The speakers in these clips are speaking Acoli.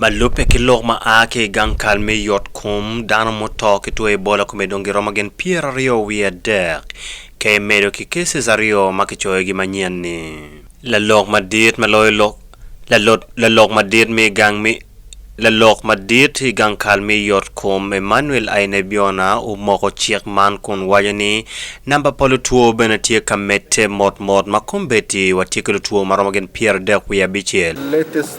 Ma lubbe ki lok ma a ki i gang kal me yotkom, dano muto ki two Ebola kome dong giromo gin pyeraryo wiye adek, ka imedo ki cases aryo ma kicoyogi manyen ni. Lalok madit ma loyo lok Lalot Lalok madit me gang me Lalok madit i gang kal me yotkom, Emmanuel Ainebiona omoko cik man kun waco ni namba pa lutwo bene tye ka medde mot mot ma kombeddi watye ki lutwo ma romo gin pyeradek wiye abicel. Latest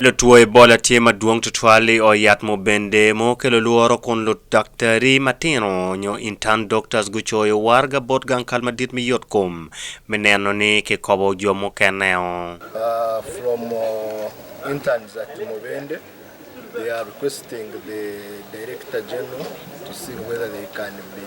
Lutwo Ebola tye madwong tutwal i ot yat mo bende ma okelo lworo kun ludaktari matino nyo intern doctors gucoyo waraga bot gang kal madit me yot kom me neno ni kikobo jo mukeneo. From interns at mo bende they are requesting the director general to see whether they can be.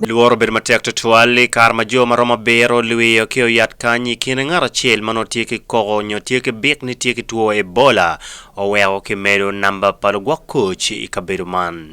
Lworo obedo matek tutwal i kare ma jo ma romo abiro lwiyo ki oyat kany i kine ngat acel ma nongo tye ki koko nyo tye ki bit ni tye ki two Ebola oweko kimedo namba pa lugwok koc i kabedo man.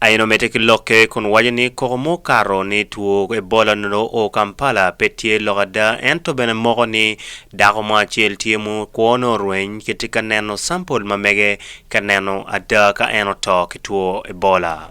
Aina omedde ki lokke kun waco ni koko ma okato ni two Ebola onongo oo Kampala pe tye lok ada ento bene moko ni dako mo acel tye ma kwo ne orweny kitye ka neno sampol ma mege ka neno ada ka en oto ki two Ebola.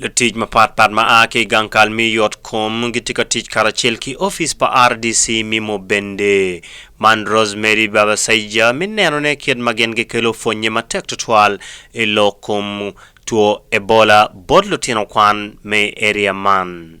Lutic mapat pat ma a ki i gang kal me yotkom gitye ka tic karacel ki opic pa RDC me Mubende. Man Rosemary Babasaija me nenone kit ma gin gikelo pwonye matek twatwal i lok kom two Ebola bot lutino kwan me i area man.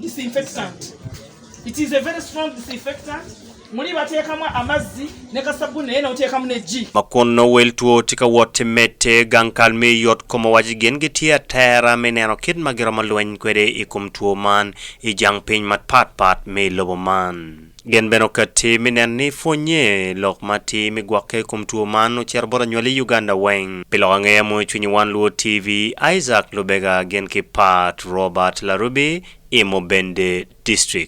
disinfectant it is a very strong disinfectant muli batekamu amazzi ne ka sabbuni naye notekamu ne ji. Ma kun nongo wel two tye ka wot ki medde, gang kal me yot kom owaco gin gitye atera me neno kit ma giromo lweny kwede i kom two man i jang piny mapatpat me lobo man. Gen bene okatti mi nen ni pwonye lok ma atir mi gwokke i kom two man ocito bot anywali i Uganda weng. Pi lok angeya i moyo cwinyi wan luwo TV Isaac Lubega gin ki Pat Robert Larubi i Mubende District.